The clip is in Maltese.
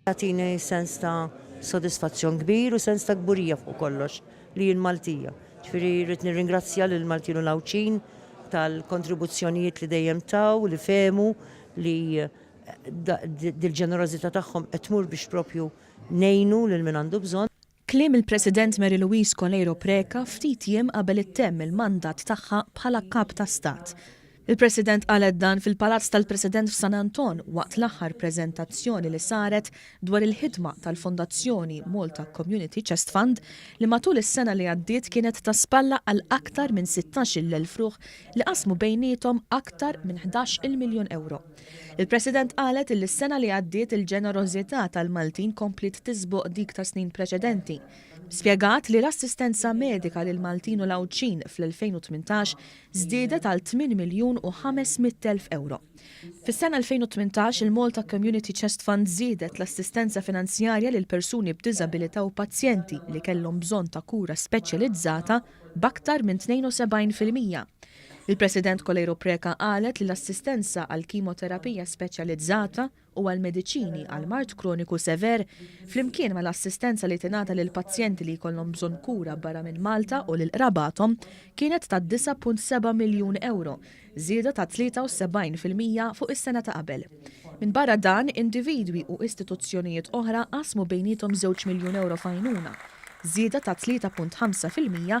Tagħtini sens ta' sodisfazzjon kbir u sens ta' kburija fuq kollox li jien Maltija. Ġifieri rrid nirringrazzja lil Maltin u l-Għawdxin tal-kontribuzzjonijiet li dejjem taw, li fehmu li dil-ġenerożità tagħhom qed tmur biex proprju ngħinu lil min għandu bżonn. Kliem il-President Mary Louise Coleiro Preca ftit jiem qabel ittemm il-mandat tagħha bħala Kap ta' Stat. Il-President qalet dan fil-Palazz tal-President f'San Anton waqt l-aħħar preżentazzjoni li saret dwar il-ħidma tal-Fondazzjoni Malta Community Chest Fund li matul is-sena li għaddiet kienet ta' spalla għal aktar minn sittax-il elf ruħ li qasmu bejniethom aktar minn ħdax-il miljun ewro. Il-President qalet illi s-sena li għaddiet il-ġenerożità tal-Maltin kompliet tiżboq dik ta' snin preċedenti. Spjegat li l-assistenza medika lil Maltin u l-Għawdxin fl-2018 żdiedet għal 8 miljun u 500 elf euro. Fis-sena 2018 il-Malta Community Chest Fund żiedet l-assistenza finanzjarja lil persuni b'diżabilità u pazjenti li kellhom bżonn ta' kura speċjalizzata b'aktar minn 72 fil-mija. Il-President Coleiro Preca qalet li l-assistenza għall-kimoterapija speċjalizzata u għall-mediċini għal mard kroniku sever, flimkien mal-assistenza li tingħata lil pazjenti li jkollhom bżonn kura barra minn Malta u lil qrabathom, kienet ta' 9.7 miljun ewro, żieda ta' 73 fil-mija fuq is-sena ta' qabel. Minbarra dan, individwi u istituzzjonijiet oħra qasmu bejniethom żewġ miljun ewro f'għajnuna, żieda ta' 3.5 fil-mija